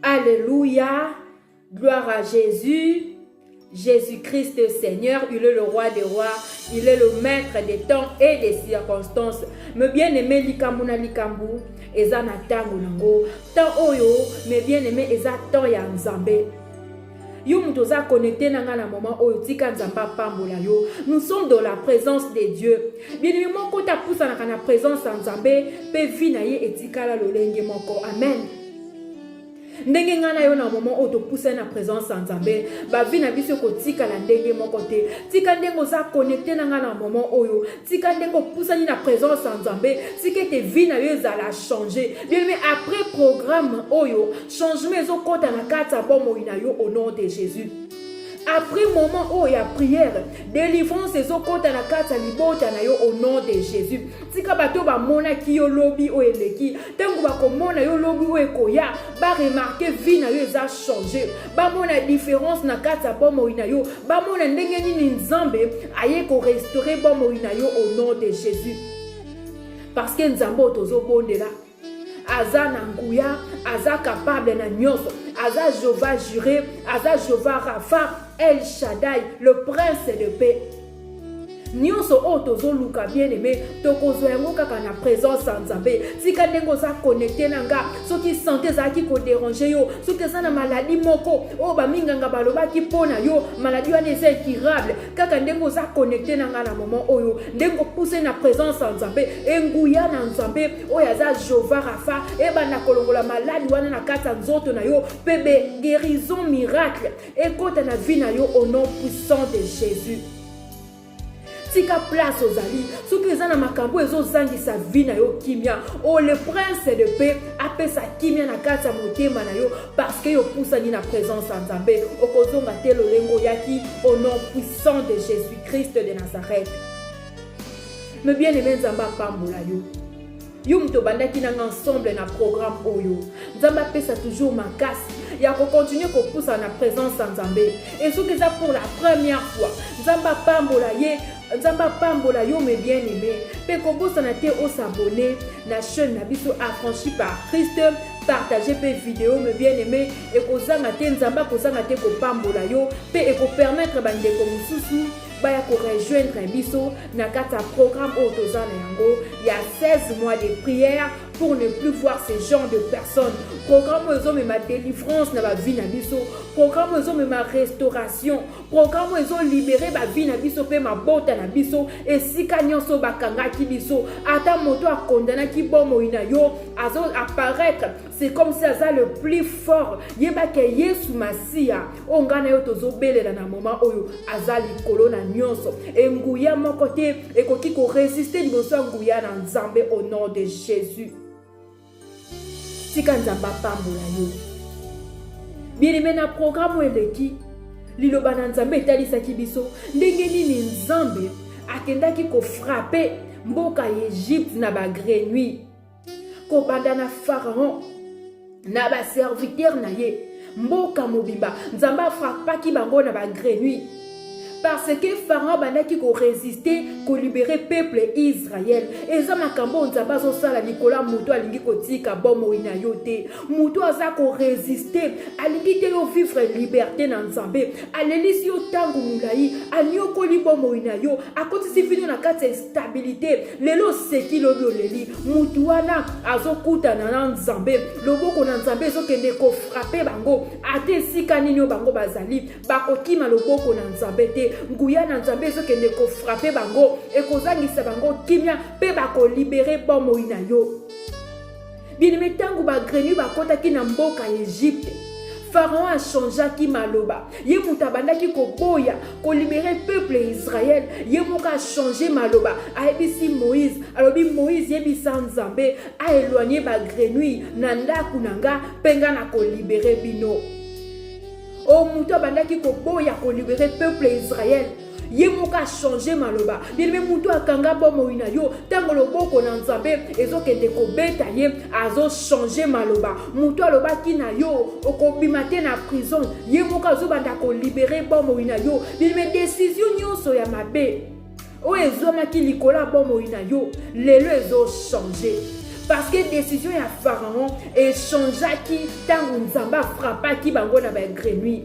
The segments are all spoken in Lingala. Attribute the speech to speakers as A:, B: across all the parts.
A: Alléluia. Gloire à Jésus. Jésus-Christ est Seigneur, il est le roi des rois, il est le maître des temps et des circonstances. Me bien-aimé likambo na likambo eza na tango nango. Temps oyo me bien-aimé eza temps ya Nzambe. yo moto oza connecte na ngai na moment oyo tika nzambe apambola yo nous sommes dans la présence de dieu bienemi moko te apusanaka na présence ya nzambe mpe vi na ye etikala lolenge moko amen ndenge ngai na yo na moment oyo topusani na présence ya nzambe bavi na biso ekotikala ndenge moko te tika ndenge oza connecte na ngai na moment oyo tika ndenge opusani na présence ya nzambe tika ete vi na yo ezala change bien mais après programme oyo Changement ezo kota na kati ya bomoi na yo au nom de Jésus. Après moment oyo ya prière, délivrance ezo kota na kati ya libota na yo au nom de Jésus. Tika bato bamonaki yo lobi oyo eleki, ntango bakomona yo lobi oyo ekoya, ba remarquer vie na yo eza changer, bamona différence na kati ya bomoi na yo, bamona ndenge nini Nzambe aye ko restaurer bomoi na yo au nom de Jésus. Parce que Nzambe oyo tozobondela aza na nguya aza capable na nyonso aza jehova jure aza jehova rafa el shadai le prince de paix nyonso oyo tozoluka bien aime tokozwa yango kaka na présence ya nzambe tika ndenge oza connecte na nga soki sante ezalaki koderange yo soki eza na maladi moko oyo baminganga balobaki mpo na yo maladi wana eza incurable kaka ndenge oza connecte na nga na moment oyo ndenge opuse na présence ya nzambe enguya na nzambe oyo aza jova rafa ebanda kolongola maladi wana na kati ya nzoto na yo mpe guérison miracle ekota na vie na yo au nom puissant de jésus tika place ozali soki eza na makambo ezozangisa vie na yo kimia o oh, le prince de paix apesa kimia na kati ya motema na yo parceke yo opusani na présence ya nzambe okozonga te lolenge oyaki au nom puissant de jésus christ de nazareth me bien aime nzambe apambola yo yo moto obandaki nanga ensemble na programme oyo nzambe apesa toujours makasi ya kocontinue kopusa na présence ya nzambe e soki eza pour la première fois nzambe apambola ye nzambe apambola yo me bien aime mpe kobosana te osabone na chaîne na biso affranchi par christ partage mpe video me bien aime ekozanga te nzambe akozanga te kopambola yo mpe ekopermettre bandeko mosusu baya ko rejoindre biso na kati ya programme oyo toza na yango ya 16 mois de prière pour ne plus voir ce genre de personnes programme oyo ezomema délivrance na bavie na biso programme oyo ezomema restauration programme oyo ezolibere bavie na biso mpe mabota na biso esika nyonso bakangaki biso ata moto akondanaki bomoi na yo azo apparaître c'est comme si aza le plus fort yeba ke yesu masiya oyo ngai na yo tozobelela na moma oyo aza likolo na nyonso enguya moko te ekoki koresiste liboso ya nguya na nzambe au nom de jésus tika nzambe apambola yo bieneme na programe oyo eleki liloba na nzambe etalisaki biso ndenge nini nzambe akendaki kofrape mboka ya egypte na bagrenui kobanda na pharaon na baserviteur na ye mboka mobimba nzambe afrapaki bango na bagrenui parce que pharaon abandaki koresiste kolibere peuple israel eza makambo oyo nzambe azosala likolo ya moto alingi kotika bomoi na yo te moto aza koresiste alingi te yo vivre liberte na nzambe alelisi yo ntango molai anyokoli bomoi na yo akotisi vino na kati ya stabilite lelo oseki lobi oleli mutu wana azokutana na nzambe loboko na nzambe ezokende kofrape bango ata esika nini oyo bango bazali bakokima loboko na nzambe te nguya na nzambe ezokende kofrape bango ekozangisa bango kimia mpe bakolibere bomoi na yo Bien-aimé, ntango bagrenu bakotaki na mboka ya Egypte, Pharaon achangeaki maloba. Ye moto abandaki koboya kolibere peuple ya Israel. Ye moko achange maloba, ayebisi Moïse, alobi Moïse, yebisa Nzambe aeloigne bagrenui na ndako na nga mpe nga na kolibere bino. O moto abandaki koboya kolibere peuple ya Israel. ye moko achange maloba yeleme motu akanga bomoi na yo ntango loboko na nzambe ezokende kobeta ye azochange maloba motu alobaki na yo okobima te na prison ye moko azobanda kolibere bomoi na yo yeleme desizio nyonso ya mabe oyo ezwamaki likolo ya bomoi na yo lelo ezochange parce que décision ya pharaon echangeaki ntango nzambe afrappaki bango na bagrenui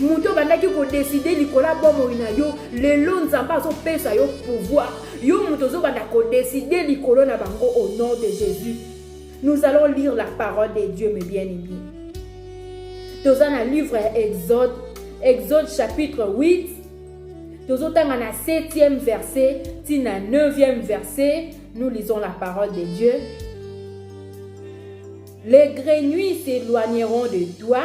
A: moto obandaki kodeside likolo ya bomoi na yo lelo nzambe azopesa yo pouvoir yo moto ozobanda kodeside likolo na bango au nom de jésus nous allons lire la parole de dieu mes bien aimé toza na livre ya exode exode chapitre 8 tozotanga na 7e verset ti na 9e verset nous lisons la parole de dieu les grenouilles s'éloigneront de toi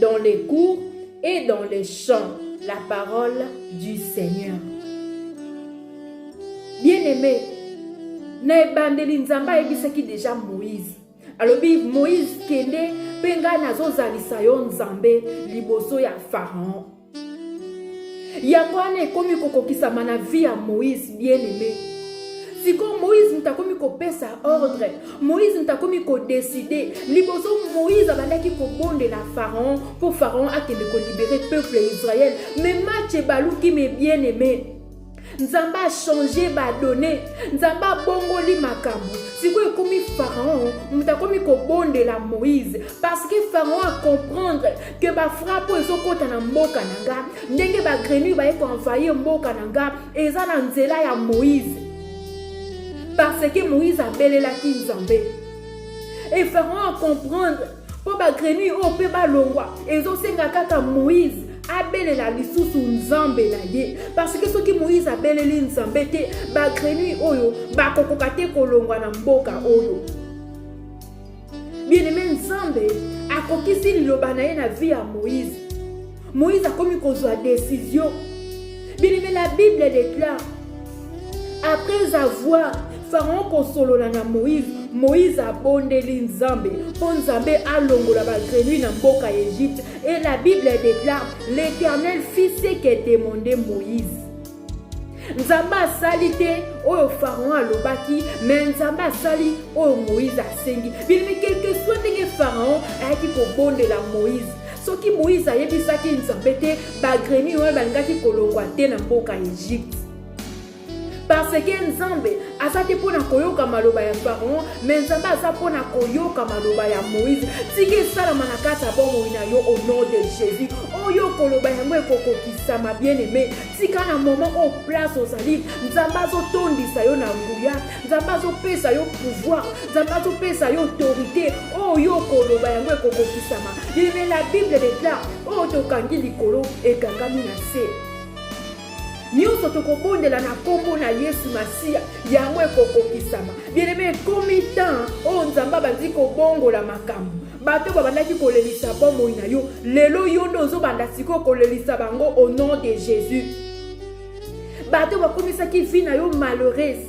A: dans les cours et dans les champs la parole du Seigneur. Bien-aimé, na ebandeli Nzambe ayebisaki deja Moïse. Alobi Moïse kende mpe ngai nazozalisa yo Nzambe liboso ya Pharaon. yango wana ekomi kokokisama na vie ya moïse bien aimé sikoyo moïse moto akomi kopesa ordre moïse moto akomi kodeside liboso moïse abandaki kobondela pharaon mpo pharaon akende kolibere peuple ya israel me match ebaluki me bien aimé nzambe achange badone nzambe abongoli makambo sikoyo ekomi pharaon moto akomi kobondela moïse parce que pharaon acomprendre ke bafrape oyo ezokɔta na mboka na nga ndenge bagrenure baye koenvahir mboka na nga eza na nzela ya moïse parce que moïse abelelaki nzambe e pharaon acomprendre mpo bagrenille oyo mpe balongwa ezosenga kaka moïse abelela lisusu nzambe na ye parce que soki moïse abeleli nzambe te bagrenille oyo bakokoka te kolongwa na mboka oyo bien aime nzambe akokisi liloba na ye na vie ya moïse Moïse akomi kozwa décision. Bien-aimé, la Bible déclare, après avoir Pharaon kosolola na Moïse, Moïse abondeli Nzambe mpo Nzambe alongola bagrenui na mboka ya Egypte. Et la Bible déclare, l'Éternel fit ce que demandait Moïse. nzambe asali te oyo pharaon alobaki me nzambe asali oyo moïse asengi bilimi quelque soit ndenge pharaon ayaki kobondela moïse soki moïse ayebisaki nzambe te bagremi oyo balingaki kolongwa te na mboka ya egypte parce que nzambe aza te mpo na koyoka maloba ya pharaon me nzambe aza mpo na koyoka maloba ya moïse tika esalama na kati ya bomoi na yo au nom de jésus oyo koloba yango ekokokisama bien aime tika na moment oyo place ozali nzambe azotondisa yo na nguya nzambe azopesa yo pouvoir nzambe azopesa yo autorité oyo yo okoloba yango ekokokisama yeme la bible declare oyo tokangi likolo ekangami na se nyonso tokobondela na nkombo na yesu masiya yango ekokokisama bieneme ekomi temps oyo nzambe abandi kobongola makambo bato babandaki kolelisa bomoi na yo lelo yo nde ozobanda sikoyo kolelisa bango au nom de jésus bato bakomisaki vie na yo malheureuse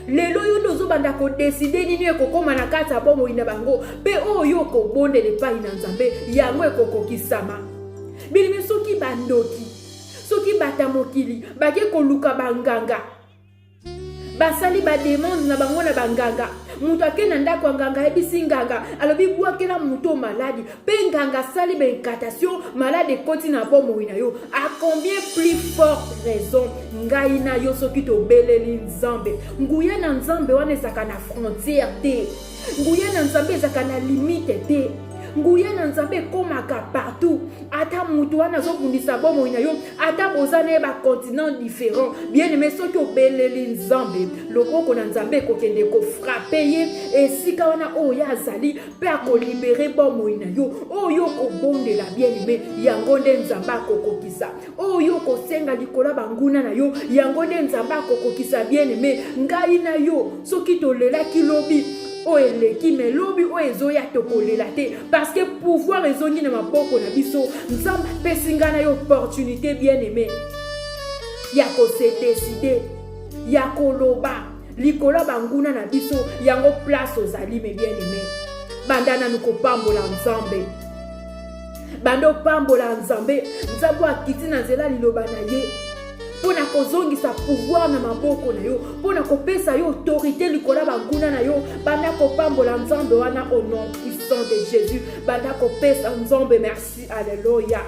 A: lelo yo nde ozobanda kodeside nini ekokóma na kati ya bomoi na bango mpe oyo okobondela epai na nzambe yango ekokokisama bilimi soki bandoki soki bata mokili bake koluka banganga basali bademande na bango na banganga moto ake na ndako ya nganga ayebisi nganga alobi bwakela moto maladi mpe nganga asali baincatation maladi ekoti na bomoi na yo a combien plus forte raison ngai na yo soki tobeleli nzambe nguya na nzambe wana ezalaka na frontière te Nguya na Nzambe ezaka na limite te. Nguya na Nzambe ekomaka partout. Ata mutu wana azobundisa bomoi na yo, ata boza na ye ba continent différent. Bien aimé, soki obeleli Nzambe, loboko na Nzambe ekokende kofrape ye esika wana oyo ye azali mpe akolibere bomoi na yo. Oyo okobondela bien aimé, yango nde Nzambe akokokisa. oyo okosenga likolo ya banguna na yo yango nde nzambe akokokisa bien aime ngai na yo soki tolelaki lobi oyo eleki me lobi oyo ezoya tokolela te parce que pouvoir ezongi na maboko na biso nzambe apesi ngai na yo opportunité bien aime ya kosedeside ya koloba likolo ya banguna na biso yango place ozali me bien aime banda nanu kopambola nzambe banda opambola nzambe nzambe oyo akiti na nzela liloba na ye mpo na kozongisa pouvoir na maboko na yo mpo na kopesa yo autorité likolo ya banguna na yo banda kopambola nzambe wana au nom puissant de jésus banda kopesa nzambe merci alleluya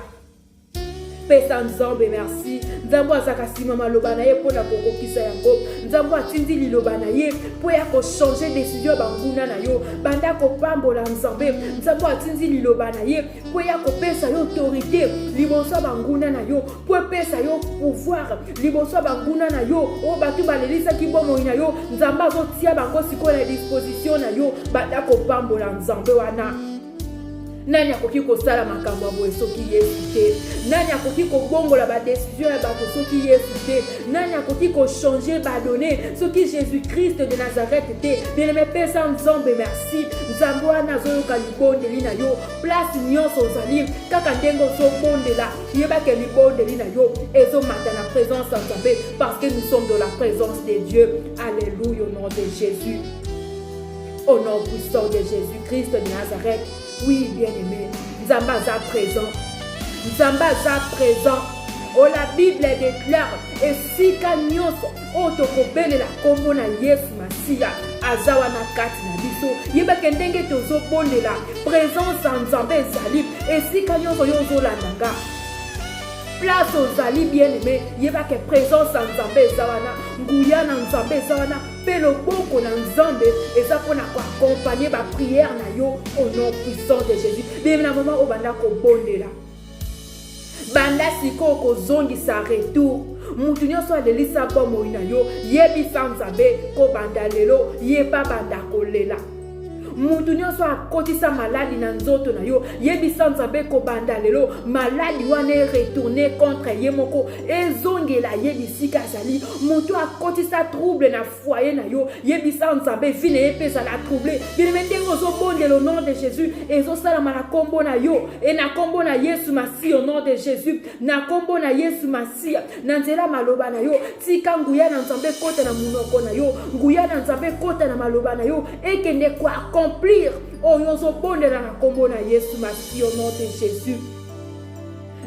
A: pesa nzambe merci nzambe azalaka nsima maloba na ye mpo na kokokisa yango nzambe atindi liloba na ye mpo ya kochange desizio ya banguna na yo banda kopambola nzambe nzambe atindi liloba na ye mpo ya kopesa yo autorité liboso ya banguna na yo mpo epesa yo pouvoir liboso ya banguna na yo oyo bato balelisaki bomoi na yo nzambe azotia bango sikoyo na disposition na yo banda kopambola nzambe wana nani akoki kosala makambo ya boye soki yesu te nani akoki kobongola badesizio ya bato soki yesu te nani akoki kochange badone soki jésus christ de nazareth te bieleme pesa nzambe merci nzambe wana azoyoka libondeli na yo place nyonso ozali kaka ndenge ozobondela yebake libondeli na yo ezomata na présence ya nzambe parce que nous sommes de la présence de dieu alleluya au nom de jésus Au nom puissant de Jésus-Christ de Nazareth, oui, bien-aimé, Nzamba aza présent. Nzamba aza présent. Oh, la Bible déclare, et si kanyoso, oh, tokobele la kombo na Yesu Masiya, aza wana kati na biso yebake ndenge tozobondela présence ya nzambe ezali esika nyonso yo ozolanda nga place ozali bien aime yebake présence ya nzambe eza wana nguya na nzambe eza wana Mpe loboko na Nzambe eza mpo na ko accompagner ba prières na yo au nom puissant de Jésus. Depuis na moment obanda kobondela banda sikoyo kozongisa retour moto nyonso alelisa bomoi na yo yebisa nzambe kobanda lelo yeba banda kolela moto nyonso akotisa maladi na nzoto na yo yebisa nzambe kobanda lelo maladi wana eretourne contre ye moko ezongela ye bisika azali moto akotisa trouble na foye na yo yebisa nzambe vi na ye mpe ezala trouble bilime ndenge ozobondela au nom de jésus ezosalama na nkombo na yo e na nkombo na yesu masiya au nom de jésus na nkombo na yesu masiya na nzela ya maloba na yo tika nguya na nzambe ekota na monoko na yo nguya na nzambe ekota na maloba na yo ekende koaccomplir oyo ozobondela na nkombo na yesu masi au nom de jésus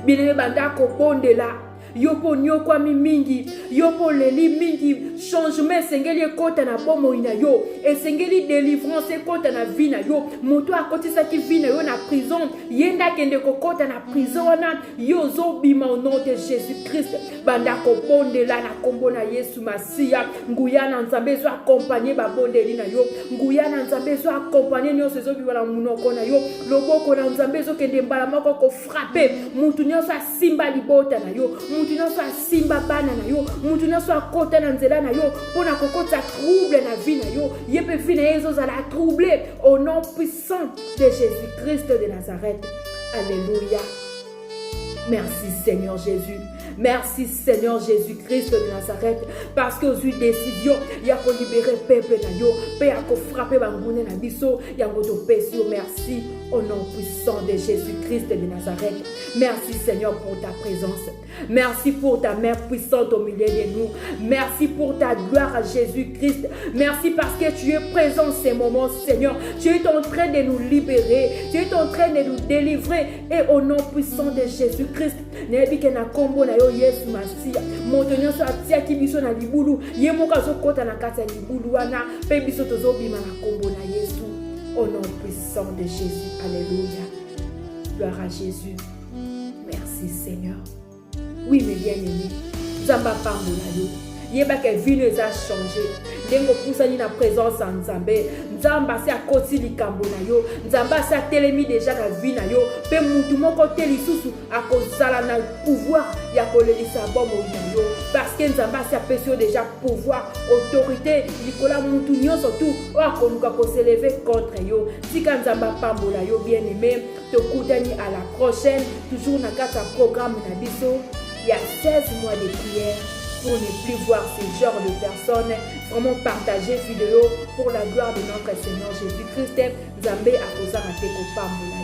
A: bilenge banda kobondela yo mpo onyokwami mingi yo mpo oleli mingi changement esengeli ekota na bomoi na yo esengeli delivrance ekota na vi na yo moto akotisaki vi na yo na prison ye nde akende kokota na prison wana yo ozobima au nom de jésus christ banda kobondela na nkombo na yesu masiya nguya na nzambe ezo akompagne babondeli na yo nguya na nzambe ezo akompagne nyonso ezobima na monoko na yo loboko na nzambe ezokende mbala moko kofrape motu nyonso asimba libota na yo motu nyonso asimba bana na yo motu nyonso akota na nzela na yo mpo na kokotisa trouble na vie na yo ye mpe vie na ye ezozala trouble au nom sang de Jésus-Christ de Nazareth. Alléluia. Merci Seigneur Jésus. Merci Seigneur Jésus-Christ de Nazareth parce que ozui décision ya kolibere peuple na yo mpe ya kofrape bangune na biso yango topesi yo merci au nom puissant de Jésus-Christ de Nazareth. Merci Seigneur pour ta présence. Merci pour ta main puissante au milieu de nous. Merci pour ta gloire à Jésus-Christ. Merci parce que tu es présent en ces moments, Seigneur. Tu es en train de nous libérer. Tu es en train de nous délivrer. Et au nom puissant de Jésus-Christ, nayebi ke na kombo na yo yesu masiya moto nyonso atiaki biso na libulu ye moko azokɔta na kati ya libulu wana mpe biso tozobima na kombo na yesu au nom puissant de jésus alléluia gloire à jésus merci seigneur oui mes bien aimé nzambe apambola yo yeba ke vino eza change ndenge opusani na présence ya nzambe nzambe asi akoti likambo na yo nzambe asi atelemi deja na vi na yo mpe motu moko te lisusu akozala na pouvoir ya kolelisa bomoi na yo parceke nzambe asi apesi yo deja pouvoir autorité likolo ya motu nyonso tu oyo akoluka koseleve contre yo tika nzambe apambola yo bien aime Tokutani à la prochaine, toujours na kati ya programme na biso ya 16 mois de prière pour ne plus voir ce genre de personnes. Vraiment partager vidéo pour la gloire de notre Seigneur Jésus-Christ. Nzambe akozanga te kopambola yo.